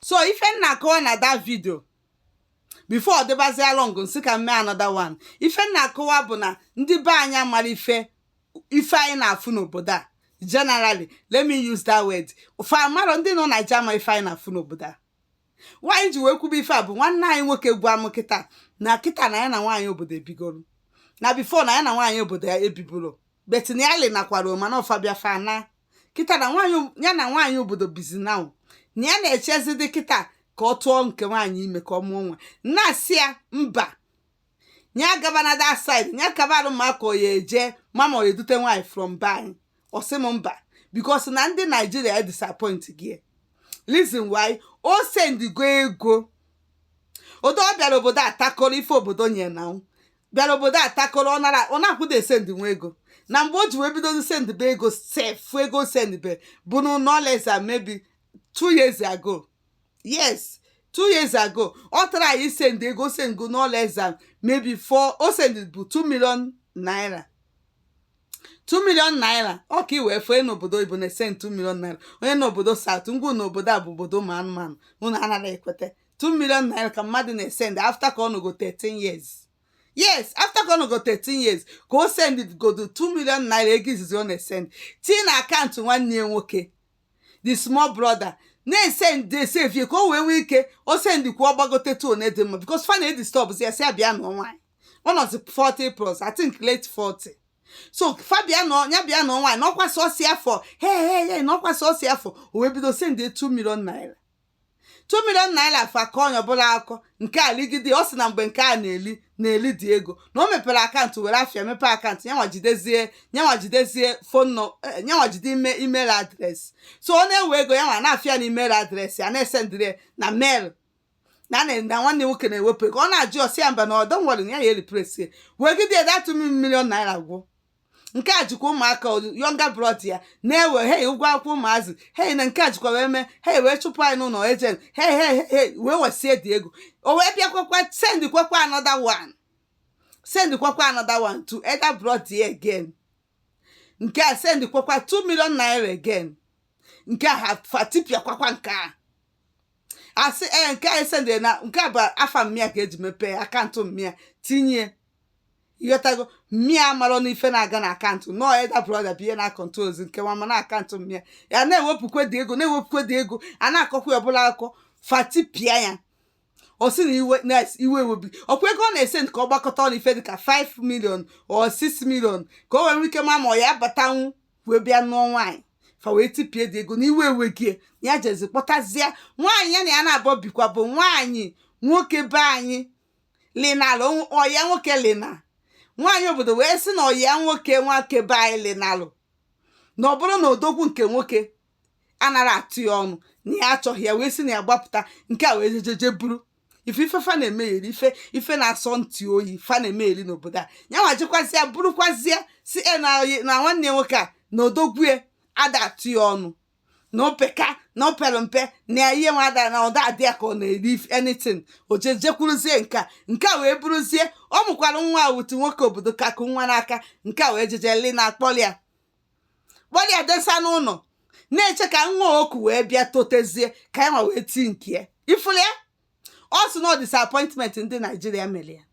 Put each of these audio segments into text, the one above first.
so ife m na-akọwa na that video before ọ dịbazịa long m sị ka m mee another one ife m na-akọwa bụ na ndị be anyị amarọ ife ife anyị na-afụ n'obodo a generally let me use that word fa amarọ ndị nọ Naija ama ife anyị na-afụ n'obodo a why m ji wee kwube ife a bụ nwanne anyị nwoke gwa m kịta na kịta na ya na nwaanyị obodo ebigoro na before na ya na nwaanyị obodo a ebiburọ but finally nakwara mana ọfabia fana kịta na nwaanyị ya na nwaanyị obodo bizi na na ya na-echezidị kịta ka ọ tụọ nke nwaanyị ime ka ọ mụọ nwa na-asị ya mba ya gaba na that side ya kabalụ mma karịa eje mama ọ edute nwaanyị from be anyị ọ sị m mba because na ndị Nigeria e disappoint gị reason why o sendigo ego odo ọ bịara obodo a takọrọ ife obodo nye na bịara obodo a takọrọ ọ nara ọ na-akwụda esend nwa ego na mgbe o ji wee bido sendbe ego sef ego sendbe bụ na no less than maybe two years ago yes two years ago ọ try send ego send go no less than maybe ife o send bụ two million naira two million naira ọ ka iwee fee n'obodo oyibo na-esend two million naira onye nọ obodo south m gwa unu n'obodo a bụ obodo ụmụ anụmanụ unu anarọ ekweta 2 million naira ka mmadụ na-esend after ka ọ nọgo 13 years yes after ka ọ nọgo 13 years ka o send godo 2 million naira ego izizi ọ na-esend tii na account nwanne ya nwoke the small brother na-esend esave ka o wee nwee ike o sendikwa ọ gbagote to one dị mma because fa na-edisturb ya sị ya bịa nụọ nwaanyị ọ nọzi 40 plus I think late 40 so fa bịa na ya bịa nụọ nwaanyị n'ọkwa sọsi afọ he he he n'ọkwa sọsi afọ o wee bido send 2 million naira 2 million naira fa kọ onye ọbụla akọ nke a ligide ọ sị na mgbe nke a na-eli na-eli dị ego na o mepere account were afa ya mepee account yanwa jidezie yanwa jidezie phone nọ eh, yanwa jide ime email address so ọ na-ewe ego yanwa na-afụ ya na email address a na-esendịrị ya na mail na a na- na nwanne nwoke na-ewepụ ego ọ na-ajụ ọ sị ya mba na don't worry na ya ya ereplace wegide ya that 2 million naira gwụ nke a jikwa ụmụaka younger brother ya na-ewe he ụgwọ akwụkwọ ụmụazị he na nke a jikwa wee mee he wee chụpụ anyị n'ụnọ agent he he he wee wesie dị ego o wee bịakwakwa sendikwakwa another one sendikwakwa another one to elder brother ya again nke a sendikwakwa 2 million naira again nke a fa tipịakwakwa nke a asị ee nke a esendịrị na nke a bụ afa mummy ya ka e ji mepee account mummy ya tinye ị ghọtago mma ya amarọ na ife na-aga na akaụntụ na ọ elder brother bụ ihe na-akọntrolụzi nke nwa ma na akaụntụ mma ya ya na-ewepụkwa the ego na-ewepụkwa the ego a na-akọkwa ya ọ bụrụ akụkọ fa tipịa ya ọ sị na iwe na iwe ewebi ọkwa ego ọ na-esevu ka ọ gbakọta ọnụ ife dịka 5 million or 6 million ka o wee nwee ike ma ma ọ ya batanwu wee bịa nụọ nwaanyị fa wee tipịa the ego na iwe ewezie ya jezi kpọtazie nwaanyị ya na ya naabọ bikwa bụ nwaanyị nwoke be anyị linalụ ọ ya nwoke lina nwaanyị obodo wee sị na ọ ya nwoke nwoke be anyị linalụ na ọ bụrụ na odogwu nke nwoke anarọ atụ ya ọnụ na ya achọghị ya wee sị na ya gbapụta nke a wee jee jee jee buru ife ife fa na-emegheri ife ife na-asọ ntị oyi fa na-emegheri n'obodo a ya nwa jekwazịa burukwazịa sị ya na na nwanne nwoke a na odogwu ya ada atụ ya ọnụ na ọ peka na o pere mpe na ihe nwada na ọ da adị ya ka ọ na-eri anything o jejekwuruzie nke a nke a wee bụrụzie ọ mụkwara nwa otu nwoke obodo ka ku nwa n'aka nke a wee jee jee lina kpọlụ ya kpọlụ ya desa n'ụnọ na-eche ka nwa o ku wee bịa totezie ka ya nwa wee tii nke ya ị fụrụ ya ọ sị na ọ disappointment ndị naijiria mere ya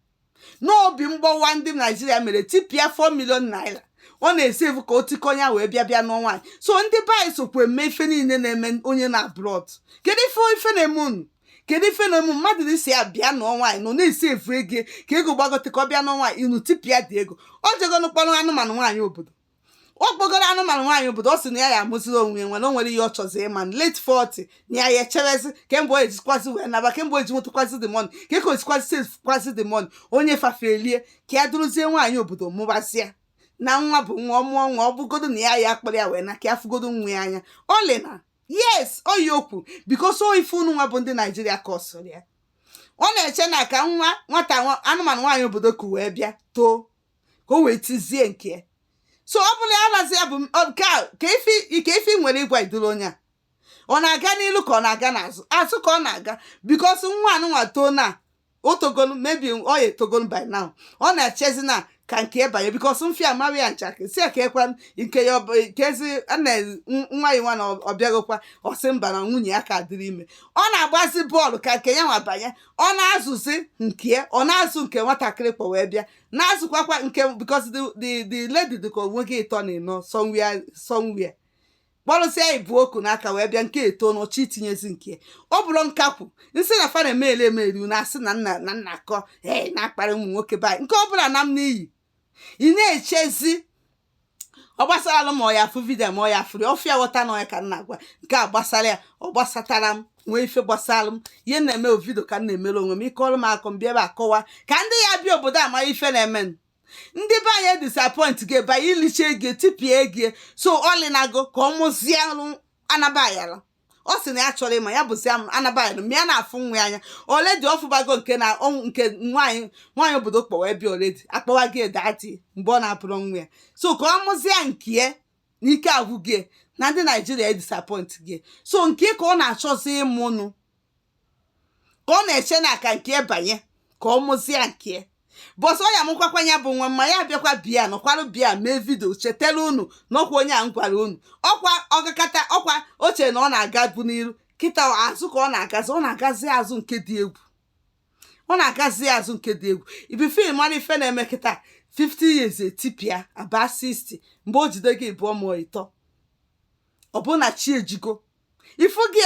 na obi mgbawa ndị naijiria mere tipịa 4 million naira ọ na-esevu ka o tikọ ya wee bịa bịa nụọ nwaanyị so ndị be anyị sokwa eme ife niile na-eme onye nọ abroad kedu ife ife na-eme unu kedu ife na-eme mmadụ n'isi ya bịa nụọ nwaanyị na ọ na-esevu ego ka ego gbagote ka ọ bịa nụọ nwaanyị unu tipịa the ego o jegonụ kpọrọ anụmanụ nwaanyị obodo ọ kpọgoro anụmanụ nwaanyị obodo ọ sị na ya ya amazirọ onwe ya nwere o nwere ihe ọ chọzi ịma na late 40 na ya ya echewezi kee mgbe o jikwazi wee naba kee mgbe o ji nwetakwazi the money ka eke o jikwazi sevukwazi the money onye fafelie ka ya duruzie nwaanyị obodo mụba sị ya na nwa bụ nwa ọ mụọ nwa ọ bụgodo na ya ya akpọrọ ya wee na ka ya fụgodo nwa ya anya o lina yes oyi okwu because ọ ife unu nwa bụ ndị naijiria kọsụrụ ya ọ na-eche na ka nwa nwata nwa- anụmanụ nwaanyị obodo ku wee bịa too ka o wee tizie nke ya so ọ bụla ya razi ya bụ nke a kee ife kee ife ị nwere ịgwa ụdịrị onye a ọ na-aga n'ilu ka ọ na-aga n'azụ azụ ka ọ na-aga because nwa anụnwa too na o togolu maybe ọ ya-etogolu by now ọ na-echezi na ka nke ya banye because mfia mara ya nchakịrị sị ya keekwa nke ya ọ bụ nke ezi nna nwa ya nwa na ọ bịagokwa ọ sị mba na nwunye ya ka dịrị ime ọ na-agbazi bọọlụ ka nke ya nwa banye ọ na-azụzi nke ọ na-azụ nke nwatakịrị kpọ wee bịa na-azụkwakwa nke because the the the lady dị ka o nwego ịtọ na ịnọ somewhere somewhere kpọrọsịa ibu o ku n'aka wee bịa nke a too na ọ chọ itinyezi nke ọ bụrụ nkakwu nsị na fa na-emeli emeli na a sị na m na na m na-akọ ee na-akparị ụmụ nwoke be anyị nke ọ bụla na m n'iyi ị na-echezi ọ gbasara alụ ma ọ ya afụ vidio ma ọ ya afụri ọ fụ ya ghọta na ọ ya ka m na-agwa nke a gbasara ya ọ gbasatara m nwee ife gbasara m ihe m na-eme vidio ka m na-emere onwe m ike ọrụ m akọ m bịa ebe a kọwa ka ndị ya bịa obodo a mara ife na-eme m ndị be anyị disappoint gị ebe anyị iliche gị tipịa gị so ọlịnago ka ọ mụzie alụ anabayala ọ sị na ya chọrọ ịma ya bụzi anabaghị m ya na-afụ nwa ya anya already ọ fụbago nke na ọnwụ nke nwaanyị nwaanyị obodo kpọwa ebe already akpọwa gị daddy mgbe ọ na-abụrọ nwa ya so ka ọ mụzie nke ya na ike agwụ gị na ndị naijiria disappoint gị so nke ya ka ọ na-achọzi ịmụnụ ka ọ na-eche na aka nke be anyị ka ọ mụzie nke bọsọ ya mụkwakwa ya bụ nwa ma ya bịakwa bịa nọkwara bịa mee vidio chetara unu na ọkwa onye a m gwara unu ọkwa ọkakata ọkwa o che na ọ na-agabu n'iru kịta azụ ka ọ na-agazi ọ na-agazi azụ nke dị egwu ọ na-agazi azụ nke dị egwu ibi fim mara ife na-eme kịta 50 years etipịa aba 60 mgbe o jide gị bụọ ma ịtọ ọ bụ na chi ejigo ifu gị